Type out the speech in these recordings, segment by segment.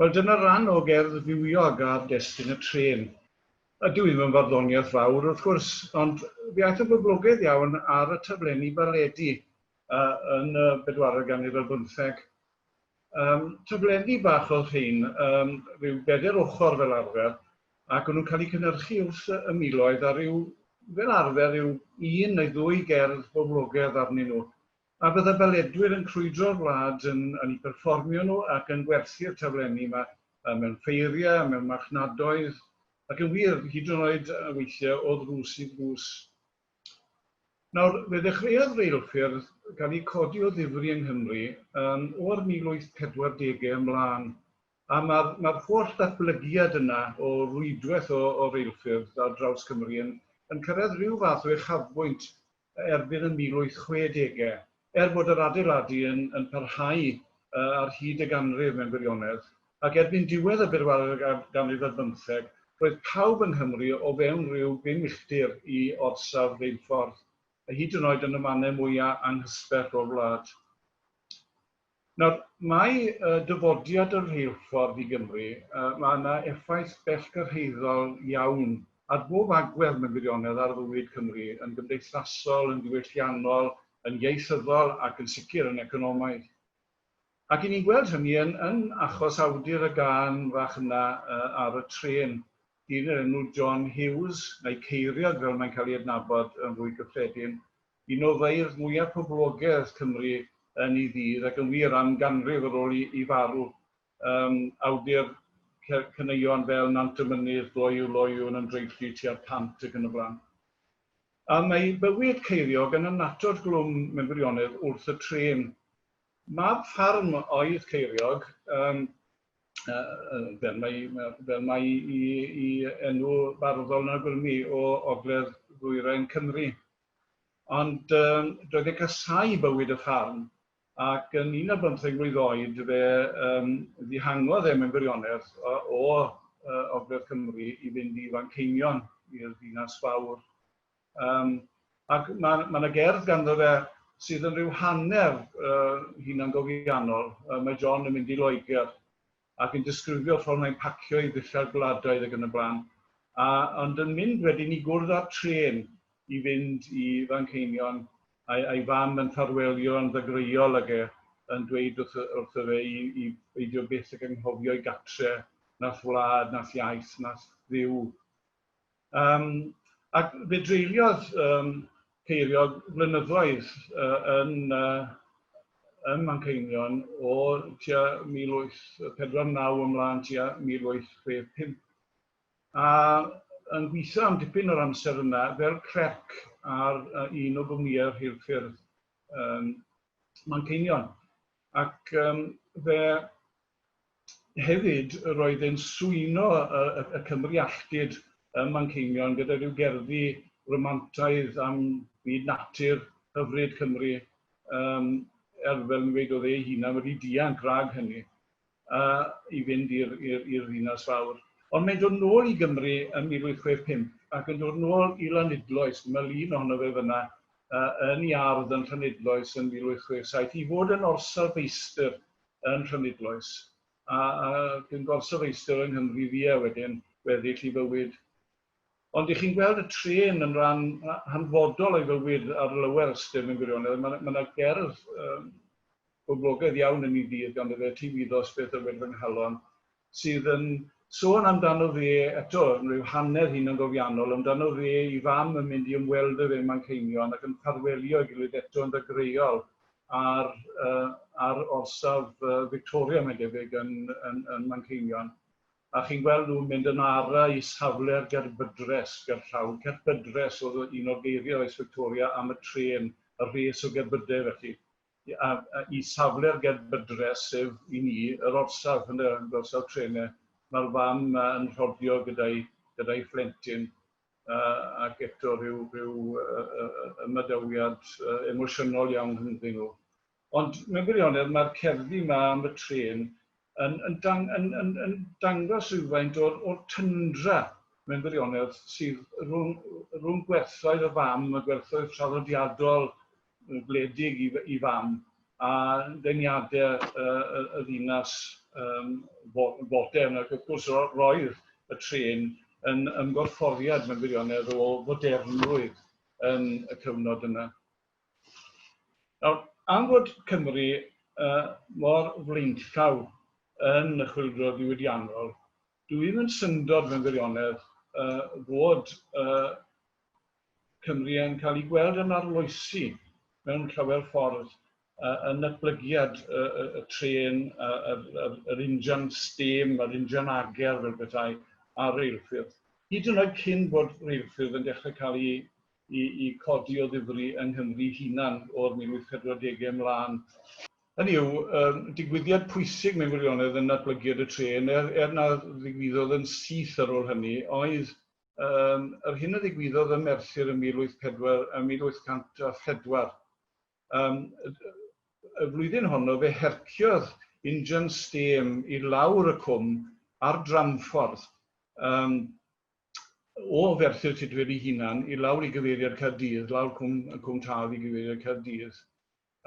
Wel, dyna ran o gerdd fywiog ar destun y trên. Ydw i'm yn farddoniaeth fawr, wrth gwrs, ond fe aeth yn boblogaidd iawn ar y taflenni baledi yn y bedwaredd ganrif ar bymtheg. Yym, taflenni bach oedd rhein, yym, rhyw bedair ochr fel arfer, ac o'n nhw'n cael eu cynhyrchu wrth y miloedd, a rhyw, fel arfer, rhyw un neu ddwy gerdd boblogaidd arnyn nhw. A bydda baledwyr yn crwydro'r wlad yn yn eu perfformio nhw ac yn gwerthu'r taflenni 'ma mewn ffeiriau a mewn marchnadoedd, ac yn wir, hyd yn oed weithiau o ddrws i ddrws. Nawr, fe ddechreuodd reilffyrdd gael eu codi o ddifri yng Nghymru yn o'r 1840au ymlaen, a mae'r mae'r holl ddatblygiad yna o rwydwaith o o reilffyrdd ar draws Cymru yn yn cyrraedd rhyw fath o uchafbwynt erbyn y 1860. Er bod yr adeiladu yn yn parhau ar hyd y ganrif mewn gwirionedd, ac erbyn diwedd y bedwaredd ganrif ar bymtheg, roedd pawb yng Nghymru o fewn rhyw bum uchdir i orsaf reilffordd, hyd yn oed yn y mannau mwya' anghysbell o'r wlad. Nawr, mae dyfodiad y rheilffordd i Gymru, mae yna effaith bellgyrhaeddol iawn ar bob agwedd mewn gwirionedd ar fywyd Cymru, yn gymdeithasol, yn ddiwylliannol, yn ieithyddol ac yn sicr yn economaidd. Ac i ni'n gweld hynny yn yn achos awdur y gân fach yna ar y trên, dyn o'r enw John Hughes, neu Ceiriog fel mae'n cael ei adnabod yn fwy cyffredin, un o feirdd mwyaf poblogedd Cymru yn ei ddydd, ac yn wir, am ganrif ar ôl i farw, yym, awdur caneuon fel Nant y Mynydd, Gloyw, Loyw, Yn Ymdreiglu tua'r Pant ac yn y blaen. A mae ei bywyd ceiriog yn annatod glwm mewn gwirionedd wrth y trên. Mab ffarm oedd Ceiriog, yym, fel mai fel mai i i enw barddol yn awgrymu, o ogledd ddwyrain Cymru. Ond yym doedd e'n casáu bywyd y ffarm ac yn un ar bymtheg mlwydd oed fe yym ddihangodd e mewn gwirionedd o o yy Ogledd Cymru i fynd i Fanceinion, i'r ddinas fawr. Yym ac ma' ma' 'na gerdd ganddo fe sydd yn rhyw hanner yy hunangofiannol, yy mae John yn mynd i Loegr ac yn disgrifio ffordd mae'n pacio i ddillad gwladoedd ac yn y blaen, a ond yn mynd wedyn i gwrdd â'r trên i fynd i Fanceinion, a'i a'i fam yn ffarwelio yn ddagreuol ag e yn dweud wrth wrtho fe i i beidio byth ag anghofio'i gatre, nath wlad, nath iaith, nath Dduw. Yym, ac fe dreuliodd yym Ceiriog flynyddoedd yy yn yy ym Manceinion o tua 1849 ymlaen tua 1865, a yn gweithio am dipyn o'r amser yna fel clerc ar yy un o gwmnïau rheilffyrdd yym Manceinion. Ac yym fe Hefyd, roedd e'n swyno y Cymry alltud ym Manceinion gyda rhyw gerddi romantaidd am fyd natur hyfryd Cymru, er fel fi'n gweud, oedd e ei hunan wedi dianc rhag hynny i fynd i'r ddinas fawr. Ond mae'n dod nôl i Gymru yn 1865 ac yn dod nôl i Lanidloes, dyma lun ohono fe fanna, yn ei ardd yn Llanidloes yn 1867, i fod yn orsaf feistr yn Nhrynibloes, a ac yn gorsaf eistedd yng Nghymru fia wedyn, gweddill ei fywyd. Ond dych chi'n gweld y trên yn ran hanfodol o'i fywyd ar lower ystyr mewn gwirionedd. Mae 'na, mae 'na gerdd yym boblogaidd iawn yn ei ddydd ganddo fe, Ti wyddost beth a wed fy nghalon, sydd yn sôn amdano fe eto yn rhyw hanner hunangofiannol, amdano fe, ei fam yn mynd i ymweld â fe ym Manceinion ac yn ffarwelio ei gilydd eto yn ddagreuol ar yy ar orsaf yy Victoria mae'n debyg yn yn yn Manceinion a chi'n gweld nhw'n mynd yn ara i safle'r gerbydres gerllaw, cerbydres oedd un o'r geiriau oes Victoria am y trên, y rhes o gerbydau felly. i safle'r gerbydres, sef, i ni, yr orsaf, ynde, yr orsaf trenau. Mae'r fam yn rhodio gyda'i gyda'i phlentyn ac eto rhyw rhyw ymadawiad emosiynol iawn rhyngddyn nhw. Ond mewn gwirionedd mae'r cerddi yma am y trên yn yn dang- yn yn yn dangos rhywfaint o'r o'r tyndra mewn gwirionedd sydd rhwng rhwng gwerthoedd y fam, y gwerthoedd traddodiadol gwledig i i fam a deniade y y y ddinas yym fo- fodern ac wrth gwrs ro- roedd y trên yn ymgorfforiad mewn gwirionedd o fodernrwydd yn y cyfnod yna. Nawr, am fod Cymru yy mor flaenllaw yn y Chwyldro Diwydiannol, Dw i'm yn syndod mewn gwirionedd fod Cymru yn cael ei gweld yn arloesi mewn llawer ffordd yn natblygiad y trên, yr injan stêm, yr injan ager fel petai, a'r reilffyrdd. Hyd yn oed cyn bod reilffyrdd yn dechrau cael eu i codi o ddifri yng Nghymru'i hunan o'r 1840au ymlaen. Hynny yw, digwyddiad pwysig mewn gwirionedd yn natblygiad y trên, er na ddigwyddodd yn syth ar ôl hynny, oedd yr hyn a ddigwyddodd ym Merthyr yn 1804. Y flwyddyn honno fe herciodd injan stêm i lawr y cwm ar dramffordd o Ferthyr Tudful ei hunan i lawr i gyfeiriad Caerdydd, lawr Cwm Cwm Taf i gyfeiriad Caerdydd.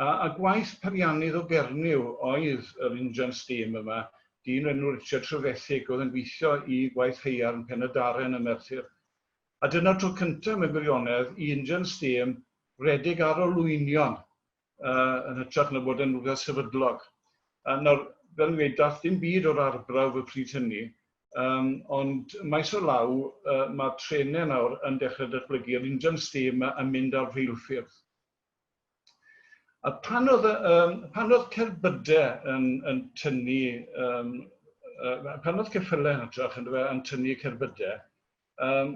A a gwaith peiriannydd o Gernyw oedd yr injan stêm yma, dyn o'r enw Richard Trevethig oedd yn gweithio i gwaith haearn Pen-y-daren ym Merthyr. A dyna'r tro cyntaf mewn gwirionedd i injan stêm redeg ar olwynion yn hytrach na bod yn rhywbeth sefydlog. A nawr, fel fi'n gweud, daeth dim byd o'r arbrawf y pryd hynny, um, ond maes o law uh, mae trenau nawr yn dechrau datblygu, yr injan stêm yn mynd ar rheilffyrdd. A pan oedd, um, pan oedd cerbydau yn, yn tynnu, um, uh, pan oedd ceffylau yn hytrach yn, yn tynnu cerbydau, Yym,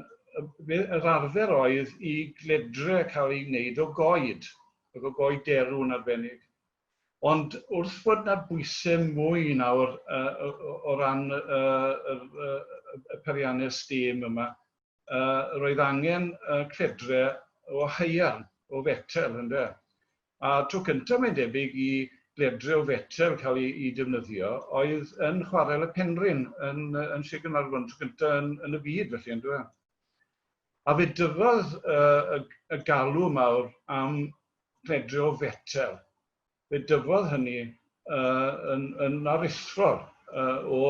yr arfer oedd i gledre cael ei wneud o goed, ac o goed derw yn arbennig. Ond wrth fod 'na bwyse mwy nawr o ran y perianne stêm yma, roedd angen cledre o haearn, o fetel, ynde. A tro cyntaf mae'n debyg i gledril fetel cael ei defnyddio oedd yn chwarel y Penrhyn yn yn Sir Gaernarfon, tro cyntaf yn yn y byd felly yndyw e? A fe dyfodd y, y, y galw mawr am gledril fetel. Fe dyfodd hynny yn aruthrol o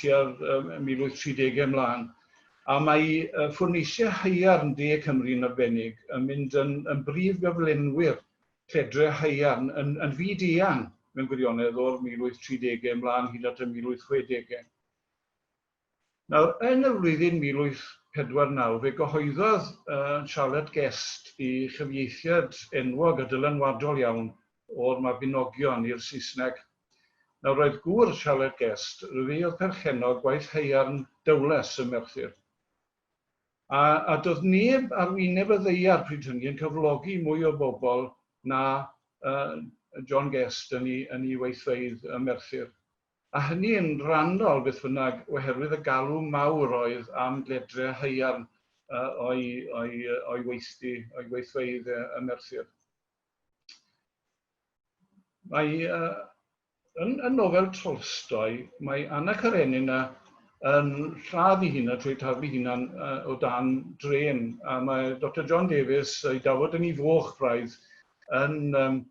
tua 1830au ymlaen, a mae ffwrneisiau haearn De Cymru yn arbennig yn mynd yn brif gyflenwyr lledrau haearn yn fyd-eang mewn gwirionedd o'r 1830au ymlaen hyd at y 1860au. Nawr, yn y flwyddyn 1849 fe gyhoeddodd Charlotte Guest i chyfieithiad enwog a dylanwadol iawn o'r Mabinogion i'r Saesneg. Nawr, roedd gŵr Charlotte Guest, ryfi oedd perchennog gwaith haearn Dowlais ym Merthyr, a, a doedd neb ar wyneb y ddaear pryd hynny yn cyflogi mwy o bobl na yy John Guest yn 'i, yn 'i weithfeydd ym Merthyr. a hynny yn rhannol beth bynnag oherwydd y galw mawr oedd am ledre haearn o'i weithdy, o'i weithfeydd ym Merthyr. Mae yn y nofel Tolstoi, mae Anna Karenina yn lladd ei hunan trwy taflu hunan o dan drên, a mae Doctor John Davies, ei dafod yn ei foch braidd, yn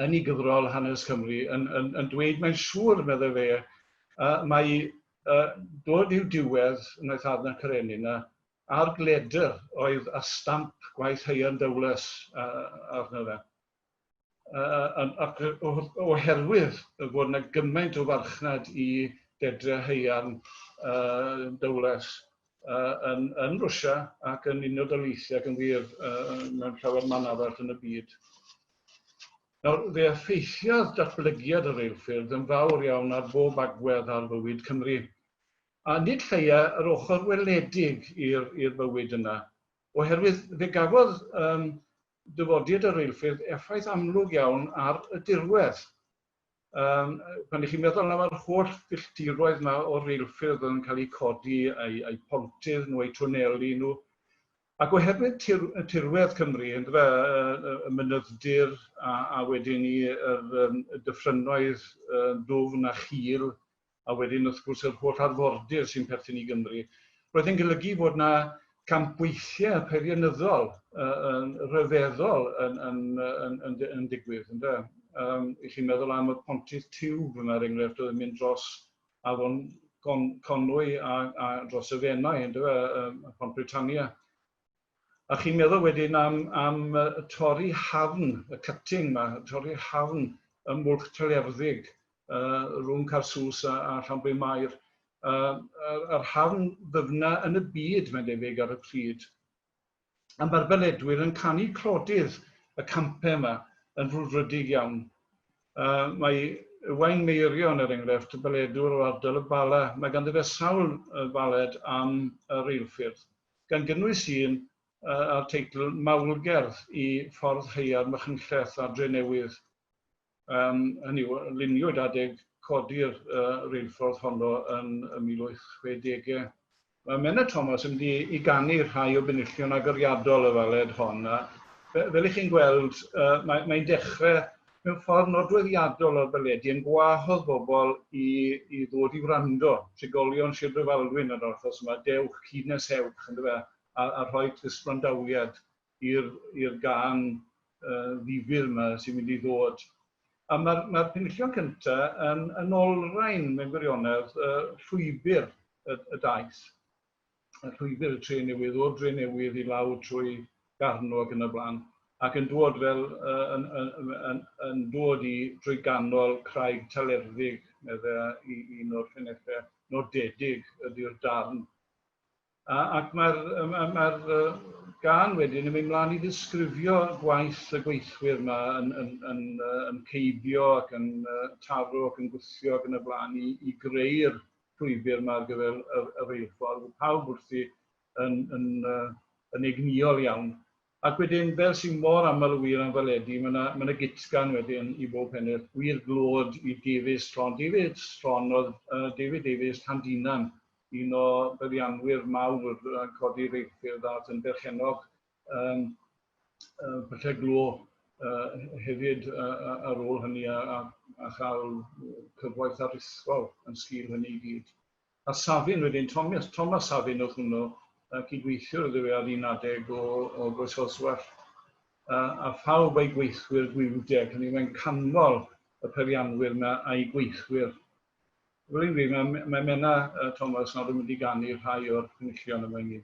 yn ei gyfrol Hanes Cymru yn yn yn dweud mae'n siŵr, meddai fe, yy mai yy dod i'w diwedd wnaeth Adnan Karenin a a'r gledr oedd â stamp gwaith Hyun Dowless yy arno fe. Yy yn ac o- o- oherwydd y bod 'na gymaint o farchnad i dedre haearn yy Dowless. yn yn Rwsia ac yn Unol Daleithiau ac yn wir mewn llawer man arall yn y byd. Nawr, fe effeithiodd datblygiad y reilffyrdd yn fawr iawn ar bob agwedd ar fywyd Cymru, a nid lleia yr ochr weledig i'r bywyd yna, oherwydd fe gafodd dyfodiad y reilffyrdd effaith amlwg iawn ar y dirwedd. Yym pan 'y chi'n meddwl am yr holl filltiroedd 'ma o reilffyrdd yn cael eu codi, a'u a'u pontydd nhw, a'u twneli nhw, ac oherwydd tir- yy tirwedd Cymru yndyfe, yy yy y mynyddir a a wedyn 'ny yr yym y dyffrynnoedd yy dwfn a chul a wedyn wrth gwrs yr holl arfordir sy'n perthyn i Gymru, roedd yn golygu fod yna campweithiau peirianyddol yn rhyfeddol yn, yn, yn, yn, yn digwydd, ynddo? Um, I chi'n meddwl am y pontydd tiwb yma, er enghraifft, oedd yn mynd dros afon Conwy a, a dros y Fenai, ynddo? Um, Pont Britannia. A chi'n meddwl wedyn am, am torri hafn, y cutting ma, torri hafn ym Mwlch Trelerddig, uh, rhwng Carsws a, a Llanbryn Mair. Uh, yr, yr hafn ddyfna yn y byd, mae'n debyg, ar y pryd. A mae'r beledwyr yn canu clodydd y campau yma yn frwdfrydig iawn. Uh, mae Ywain Meirion, er enghraifft, y beledwr o ardal y Bala, mae ganddo fe sawl baled am y reilffyrdd. gan gynnwys un â'r teitl 'Mawl-gerdd i Ffordd Haearn Machynlleth a Drenewydd', hynny yw, luniwyd adeg codi'r reilffordd honno yn y 1860au. Mae Menna Thomas yn mynd i ganu rhai o benillion agoriadol y faled hon, a fel y'ch chi'n gweld, mae'n dechrau mewn ffordd nodweddiadol o'r baledi yn gwahodd bobl i i ddod i wrando, trigolion Sir Drefaldwyn yn yr achos yma, dewch, cyd nes ewch, yndyfe, a a a rhoi cysbrandaliad i'r i'r gân yy ddifyr yma sy'n mynd i ddod. A mae'r mae'r penillion cynta yn yn olrhain mewn gwirionedd yy llwybr y y daith. y llwybr y Drenewydd, o'r Drenewydd i lawr trwy Garno ac yn y blaen, ac yn dod fel yy yn yn yn yn dod i drwy ganol Craig Talerddig, medde i un o'r ffenethe nodedig ydi'r darn. A, ac mae'r mae'r mae'r gan wedyn yn mynd mlaen i ddisgrifio gwaith y gweithwyr yma yn, yn, yn, yn, yn ceibio ac yn taro ac yn gwthio ac yn y blaen i, i greu'r llwybr yma ar gyfer y, y reilffordd, oedd pawb wrthi yn, yn, uh, yn egnïol iawn. Ac wedyn, fel sy'n mor aml y wir am faledi, mae yna, mae yna gitsgan wedyn i bob pennill. Gwir glod i Davies Tron. Davies Tron oedd uh, David Davies Llandinan, un o byddianwyr mawr yn codi reilffyrdd a yn berchennog Yym yy falle glo yy hefyd yy ar ôl hynny a a a chael cyfoeth aruthrol yn sgil hynny i gyd. A Safin wedyn, Thomas Thomas Safin oedd hwnnw, yy cydweithiwr iddo fe ar un adeg o o Groesoswallt, a a phawb a'i gweithwyr Gwiwdeg, hynny yw mae'n canmol y peirianwyr 'ma a'i gweithwyr. Fel o'n i'n dweud, mae mae Menna yy Thomas nawr yn mynd i ganu rhai o'r cynullion yma i ni.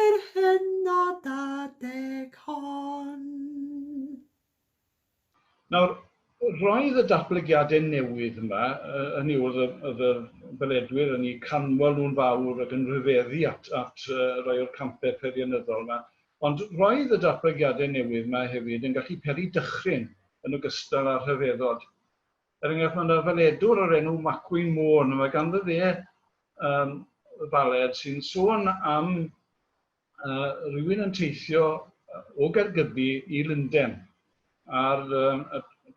Yr hynod adeg hon. Nawr, roedd y datblygiadau newydd yma, hynny yw, oedd y beledwyr yn eu canmol nhw'n fawr ac yn rhyfeddu at rai o'r campau peirianyddol yma, ond roedd y datblygiadau newydd yma hefyd yn gallu peri dychryn yn ogystal â rhyfeddod. Er enghraifft, mae yna faledwr o'r enw Macwyn Môn, mae ganddo fe um, faled sy'n sôn am uh, rhywun yn teithio o Gaergybi i Lunden a'r um,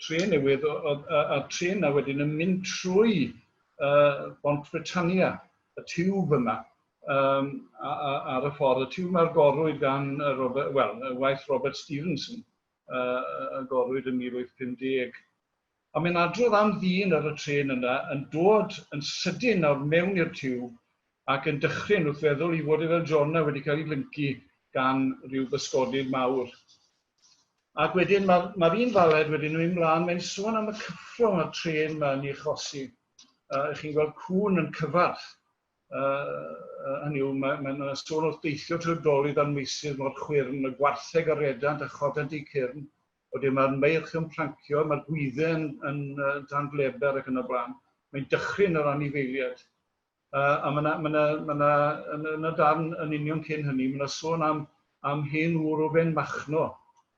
tren newydd, a tren na wedyn yn mynd trwy uh, Bont Britannia, y tiwb yma, um, ar y ffordd, y tiwb mae'r gorwyd gan Robert, well, waith Robert Stevenson. yy agorwyd yn 1850. A mae'n adrodd am ddyn ar y trên yna yn dod yn sydyn nawr mewn i'r tiwb ac yn dychryn wrth feddwl i fod e fel Jona wedi cael ei lyncu gan ryw bysgodyn mawr. Ac wedyn mae'r ma un faled wedyn yn mynd mlaen, mae'n sôn am y cyffro mae'r trên yma yn ei achosi. Uh, chi'n gweld cŵn yn cyfarth hynny yw, mae yna ma sôn wrth deithio trwy'r dolydd a'r meysydd mor chwyrn, y gwartheg a redant a chodant eu cyrn, wedyn mae'r meirch yn plancio, mae'r gwydde yn, yn, yn dan bleber ac yn y blaen. Mae'n dychryn yr anifeiliaid. Uh, a mae yna, mae yna, mae yna, yn, yn y darn yn union cyn hynny, mae yna sôn am, am hen wr o ben machno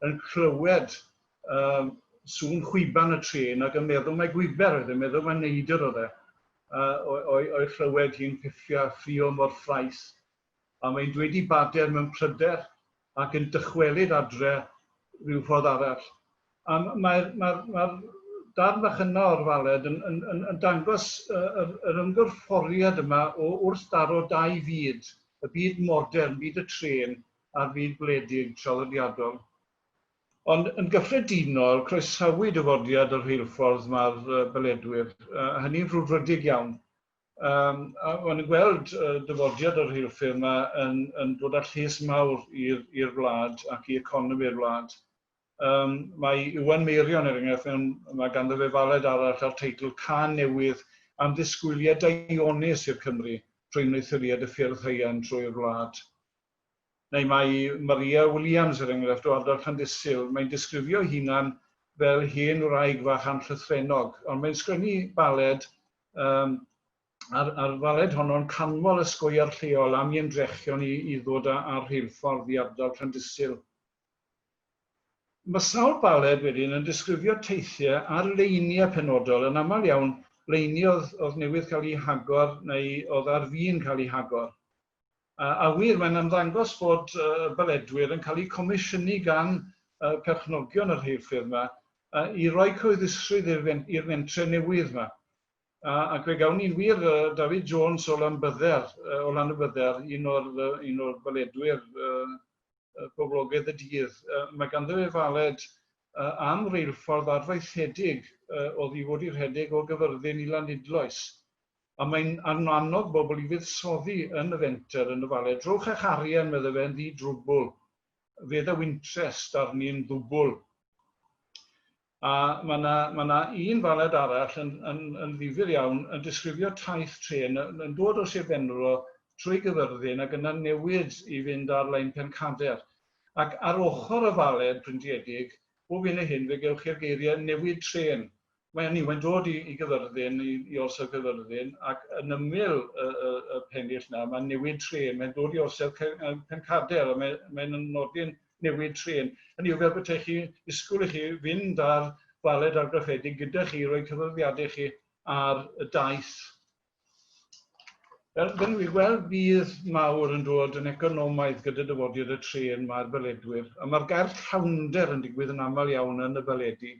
yn clywed uh, sŵn chwiban y tren ac yn meddwl mae gwiber oedd e, meddwl mae neidr oedd e. o'i chlywed hi'n piffio a ffrio mor ffraes. A mae'n dweud i bader mewn pryder ac yn dychwelyd adre ryw ffordd arall. A mae'r darn fach yna o'r faled yn dangos yr ymgorfforiad yma o wrthdaro dau fyd, y byd modern, byd y trên, a'r byd gwledig, traddodiadol. Ond yn gyffredinol, croesawu dyfodiad y rheilffordd mae'r beledwyr, a hynny'n frwdfrydig iawn. Maen nhw'n gweld dyfodiad y rheilffyrdd yma yn dod â lles mawr i'r wlad ac i economi'r wlad. Mae Iwan Meirion, er enghraifft, mewn, mae ganddo fe faled arall â'r teitl 'Cân Newydd am Ddisgwyliad Daionus i'r Cymry trwy Wneuthuriad y Ffyrdd Haearn trwy'r Wlad'. neu mae Maria Williams, er enghraifft, o ardal Llandysul, mae'n disgrifio'i hunan fel hen wraig fach anllythrennog, ond mae'n sgwennu baled, um, a'r, ar faled honno'n canmol y sgoiar lleol am i ymdrechion i, i ddod â, â rheilffordd i ardal Llandysul. Mae sawl baled wedyn yn disgrifio teithiau ar leiniau penodol, yn aml iawn leiniau oedd, oedd newydd cael eu hagor neu oedd ar fin cael eu hagor. A wir, mae'n ymddangos bod y Baledwyr yn cael eu comisiynu gan perchnogion y rheilffyrdd yma i roi cyhoeddusrwydd i'r mentrau newydd yma. Ac fe gawn ni wir David Jones o Lanbydder, o Lanybydder, un o'r un o'r Baledwyr boblogaidd y dydd. Mae ganddo fe faled am reilffordd arfaethedig oddi fod i rhedeg o Gyfyrddin i Lanidloes. A mae'n annog bobl i fuddsoddi yn y fenter yn y Falet. Drowch â'ch arian, medde fe, yn ddi-drwbwl. Fe ddaw interest arni'n ddwbwl. A mae 'na, mae 'na un Falet arall yn, yn, yn ddifyr iawn, yn disgrifio taith trên yn, yn dod o Sir Benfro trwy Gyfyrddin ac yna'n newid i fynd ar lein Pencader. Ac ar ochr y Falet, bryntiedig, bob hyn a hyn fe gewch chi'r geiriau newid trên Mae hynny, mae'n dod i, i gyfyrddin, i, i orsedd cyfyrddin, ac yn ymyl y, y, y pennill na, mae'n newid tren, mae'n dod i orsedd pencader, a mae'n mae nodi'n newid tren. Hynny yw fel bethau chi disgwyl i chi fynd ar faled argraffedig gyda chi, roi cyfyrddiadau chi ar y daith. Fel, fel ni'n gweld, bydd mawr yn dod yn economaidd gyda dyfodiad y tren mae'r baledwyr, a mae'r gair llawnder yn digwydd yn aml iawn yn y baledi.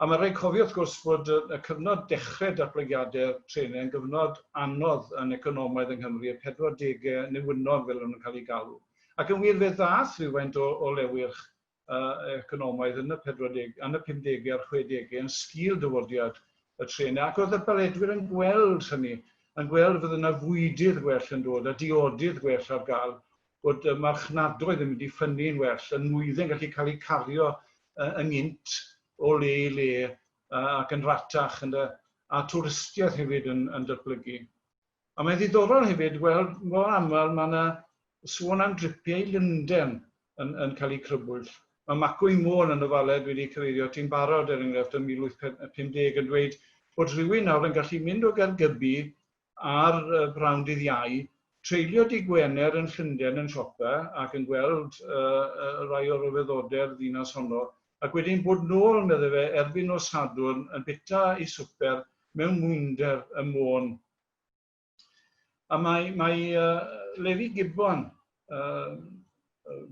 A mae'n rhaid cofio, wrth gwrs, fod y cyfnod dechrau datblygiadau'r trenau yn gyfnod anodd yn economaidd yng Nghymru, y pedwardegau newynnod fel o'n nhw'n cael eu galw. Ac yn wir, fe ddaeth rhywfaint o o lewyrch economaidd yn y pedwardegau, yn y pumdegau a'r chwedegau yn sgil dyfodiad y trenau, ac oedd y baledwyr yn gweld hynny, yn gweld fod yna fwydydd gwell yn dod a diodydd gwell ar gael, bod y marchnadoedd yn mynd i ffynnu'n well, y nwydde'n gallu cael eu cario yn gynt o le i le ac yn rhatach ynde, a twristiaeth hefyd yn yn datblygu. A mae'n ddiddorol hefyd weld mor aml mae yna sôn am dripiau i Lundain yn yn cael eu crybwyll. Mae Macw i Môn yn y Faled wedi cyfeirio ati'n barod er enghraifft ym 1850 yn dweud bod rhywun nawr yn gallu mynd o Gaergybi ar y prynhawn dydd Iau, treulio dydd Gwener yn Llundain yn siopa ac yn gweld rhai o ryfeddodau'r ddinas honno, ac wedyn bod nôl, meddai fe, erbyn nos Sadwrn yn bita ei swper mewn mwynder ym Môn. A mae Levi Gibbon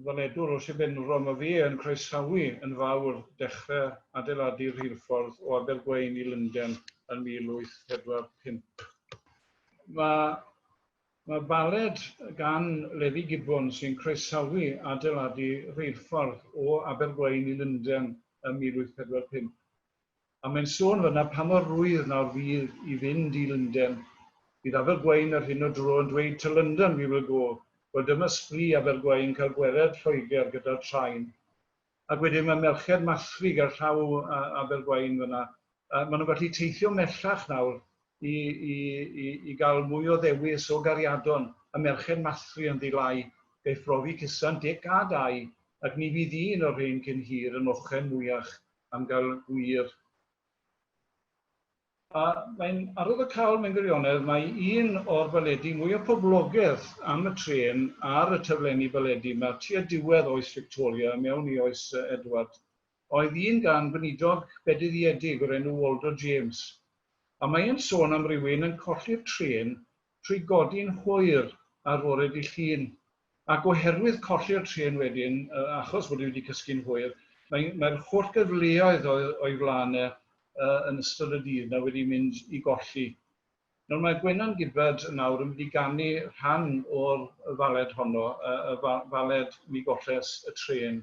weledwr o Sir Benfro, mae fe yn croesawu yn fawr dechrau adeiladu'r rheilffordd o Abergwaun i Lundain yn 1845. Mae mae baled gan Levi Gibbon sy'n croesawu adeiladu rheilffordd o Abergwaun i Lundain yn 1845. A mae'n sôn fan'na pa mor rwydd nawr fydd i fynd i Lunden. Bydd Abergwaun yr hyn o dro yn dweud to London we will go, wel dyma sbri Abergwaun cael gwered Lloegr gyda'r traen. Ac wedyn mae merched Mathrig ar llaw Abergwaun fan'na, yy maen nhw'n gallu teithio mellach nawr i i i i gael mwy o ddewis o gariadon, y merched Mathri yn ddi-lai, gaiff brofi cusan Dic a Dai, ac ni fydd un o'r rhein cyn hir yn ochen mwyach am gael gwir. A mae'n arwydd o cawl mewn gwirionedd, mae un o'r baledi mwyaf poblogedd am y trên ar y taflenni baledi 'ma tua diwedd oes Victoria a mewn i oes Edward oedd un gan weinidog bedyddiedig o'r enw Waldo James, a mae e'n sôn am rywun yn colli'r trên trwy godi'n hwyr ar fore Dy' Llun. Ac oherwydd colli'r trên wedyn, achos bod e wedi cysgu'n hwyr, mae mae'r holl gyfleoedd oedd o'i flaen e yn ystod y dydd 'na wedi mynd i golli. Nawr mae Gwenan Gibbard nawr yn mynd i ganu rhan o'r faled honno, y faled 'Mi Golles y Trên'.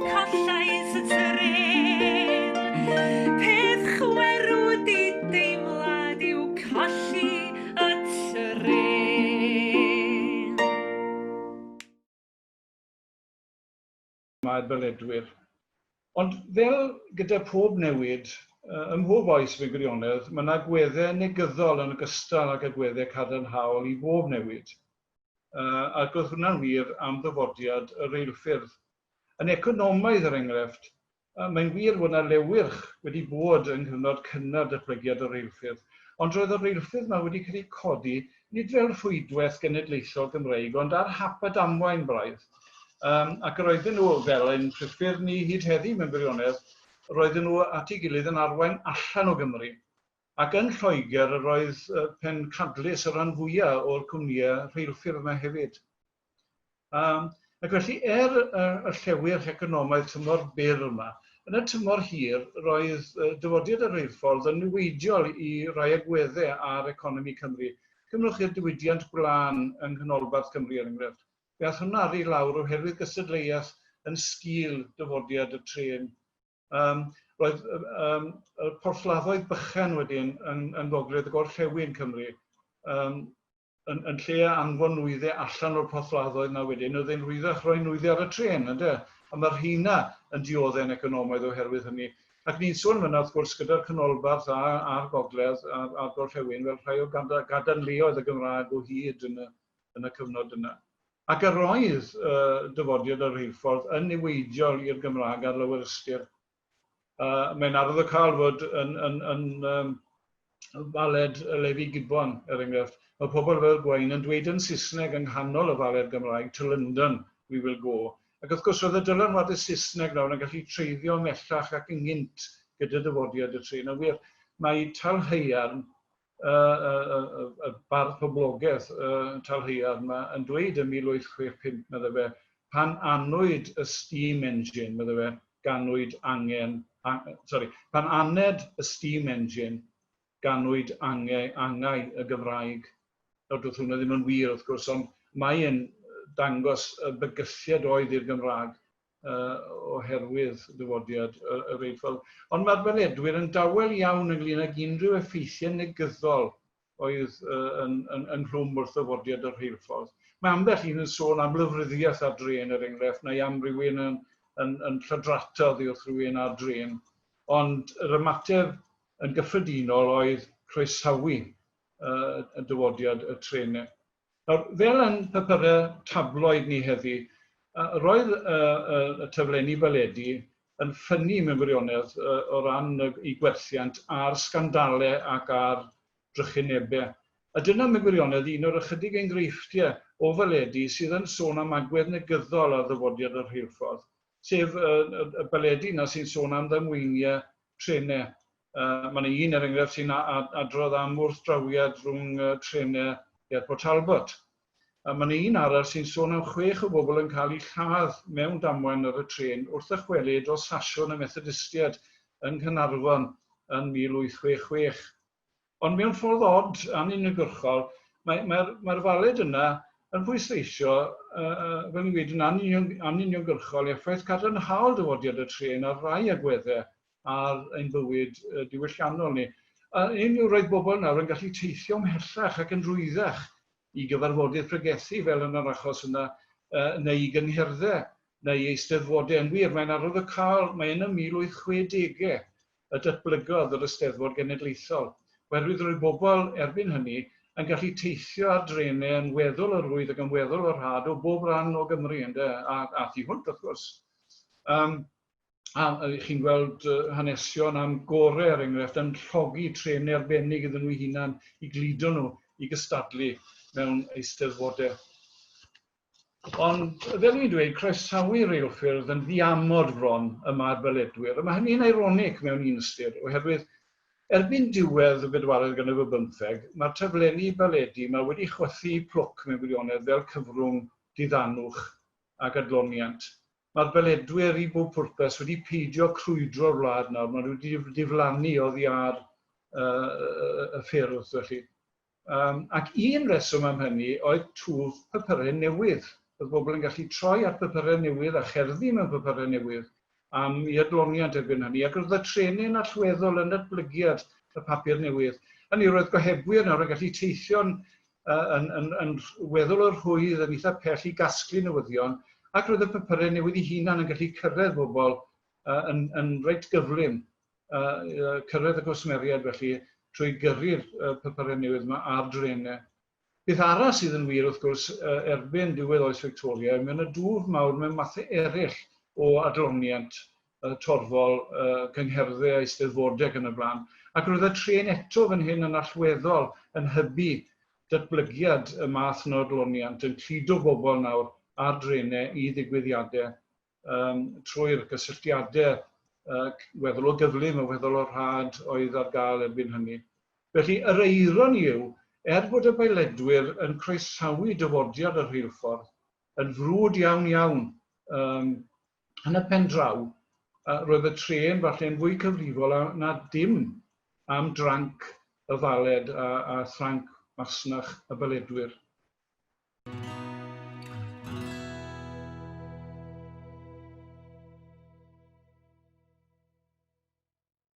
mae'r beledwyr. Ond fel gyda pob newid, ym mhob oes mewn gwirionedd, mae yna gweddau negyddol yn ogystal ag agweddau cadarnhaol i bob newid. Ac oedd hwnna'n wir am ddyfodiad y reilffyrdd. Yn economaidd, er enghraifft, mae'n wir fod 'na lewyrch wedi bod yng nghyfnod cynnar datblygiad y reilffyrdd, ond roedd y reilffyrdd 'ma wedi cael eu codi, nid fel rhwydwaith genedlaethol Gymreig, ond ar hap a damwain braidd. Yym, ac yr oedden nhw, fel ein priffyrdd ni hyd heddi mewn gwirionedd, yr oedden nhw at ei gilydd yn arwain allan o Gymru. Ac yn Lloegr, yr oedd pencadlys y rhan fwya' o'r cwmnïau rheilffyrdd 'ma hefyd. Um, ac felly, er uh, y llewyr economaidd tymor byr yma, yn y tymor hir, roedd uh, dyfodiad y reilffordd yn niweidiol i rai agweddau ar economi Cymru. Cymrwch i'r diwydiant gwlân yng Nghanolbarth Cymru, er enghraifft. Fe all hwnna ar ei lawr oherwydd gystadleuaeth yn sgil dyfodiad y tren. Um, roedd um, y porthladdoedd bychan wedyn yn, yn gogledd y gorllewin Cymru. Um, yn yn lle anfon nwyddau allan o'r porthladdoedd 'na wedyn, oedd e'n rhwyddach roi nwyddau ar y trên, ynde? A mae'r rheina yn diodde'n economaidd oherwydd hynny. Ac ni'n sôn fanna, wrth gwrs, gyda'r Canolbarth a, a'r Gogledd a'r, a'r Gorllewin, fel rhai o gada, gadarnleoedd y Gymraeg o hyd yn y, yn y cyfnod yna. Ac yr oedd uh, dyfodiad y rheilffordd yn niweidiol i'r Gymraeg ar lawer ystyr. Yy mae'n arwyddocaol fod yn yn yn yym Baled y Lefi Gibbon, er enghraifft, mae pobl fel Gwain yn dweud yn Saesneg yng nghanol y Faled Gymraeg, To London we will go. Ac wrth gwrs, roedd y dylanwadau Saesneg nawr yn gallu treiddio ymhellach ac ynghynt gyda dyfodiad y trên. A wir, mae talhaearn y bardd poblogedd talhaearn yma yn dweud yn 1865, medde fe, pan anwyd y steam engine, medde fe, ganwyd angen, sori, pan aned y steam engine, ganwyd angau, angau y Gymraeg. Nawr, doedd hwnna ddim yn wir, wrth gwrs, ond mae'n dangos y bygythiad oedd i'r Gymraeg oherwydd dyfodiad yr Eifl. Ond mae'r Beledwyr yn dawel iawn ynglyn ag unrhyw effeithiau negyddol oedd yn, yn, yn rhwm wrth ddyfodiad yr rheilffordd. Mae ambell un yn sôn am lyfryddiaeth ar dren er enghraifft, neu am rywun yn, yn, yn llydrata oddi wrth rywun ar dren. Ond yr ymateb yn gyffredinol oedd croesawu y dyfodiad y trenau. Nawr, fel yn papurau tabloid ni heddi, roedd y taflenni baledi yn ffynnu mewn gwirionedd o ran eu gwerthiant a'r sgandalau ac a'r drychinebau. A dyna mewn gwirionedd un o'r ychydig enghreifftiau o faledi sydd yn sôn am agwedd negyddol ar ddyfodiad y rheilffordd, sef y baledi yna sy'n sôn am ddamweiniau trenau. Mae yna un, er enghraifft, sy'n adrodd am wrthdrawiad rhwng trenau ger Port Talbot. A mae yna un arall sy'n sôn am chwech o bobl yn cael eu lladd mewn damwain ar y trên wrth ddychwelyd o Sasiwn y Methodistiaid yng Nghaernarfon yn 1866. Ond mewn ffordd od, anuniongyrchol, mae, mae'r, mae'r faled yna yn pwysleisio, fel ni'n gweud, yn anuniongyrchol effaith cadarnhaol dyfodiad y trên ar rai agweddau ar ein bywyd diwylliannol ni. A hyn yw, roedd bobl nawr yn gallu teithio ymhellach ac yn rwyddach i gyfarfodydd pregethu, fel yn yr achos yna, neu i gyngherddau, neu i eisteddfodau. Yn wir, mae'n arwydd o cael, mae yn y 1860au y datblygodd yr Eisteddfod Genedlaethol, oherwydd roedd bobl, erbyn hynny, yn gallu teithio ar drenau yn weddol o rwydd ac yn weddol o rhad o bob rhan o Gymru, ynde, a, a thu hwnt, wrth gwrs. Um, a ydych chi'n gweld hanesion am gore, er enghraifft, yn llogi trenau arbennig iddyn nhw'i hunan i gludo nhw i gystadlu mewn eisteddfodau. Ond, fel dwi'n dweud, croesawu reilffyrdd yn ddiamod fron yma ar Beledwyr, a mae hynny'n eironig mewn un ystyr, oherwydd erbyn diwedd y bedwaredd ganrif ar bymtheg, mae'r taflenni baledi yma wedi chwythu plwc mewn gwirionedd fel cyfrwng diddanwch ac adloniant. Mae'r beledwyr i bob pwrpas wedi peidio crwydro'r wlad nawr, maen nhw wedi diflannu oddi ar y ffyrdd felly. Um, ac un reswm am hynny oedd twf papurau newydd. Oedd bobl yn gallu troi at papurau newydd a cherddi mewn papurau newydd am i adloniant erbyn hynny, ac roedd y trenyn allweddol yn natblygiad y papur newydd. Hynny roedd gohebwyr nawr yn gallu teithio'n yn, yn, yn weddol o'r rhwydd yn eitha pell i gasglu newyddion, ac roedd y papurau newydd i hunan yn gallu cyrraedd bobl uh, yn, yn reit gyflym, uh, uh, cyrraedd y gwsmeriaid felly trwy gyrru'r uh, papurau newydd yma ar drenau. Beth arall sydd yn wir wrth gwrs uh, erbyn diwedd oes Victoria, mae yna dwf mawr mewn mathau eraill o adloniant y torfol, y cyngherddau, eisteddfodau ac yn y blaen. Ac roedd y trên eto fan hyn yn allweddol yn hybu datblygiad y math yno o gloniant, yn cludo bobl nawr ar drenau i ddigwyddiadau um, trwy'r gysylltiadau uh, weddol o gyflym a weddol o rhad oedd ar gael erbyn hynny. Felly, yr eiron yw, er bod y bailedwyr yn croesawu dyfodiad y rheilffordd, yn frwd iawn iawn um, yn y pen draw, yy roedd y trên falle'n fwy cyfrifol a na dim am dranc y faled a a thranc masnach y baledwyr.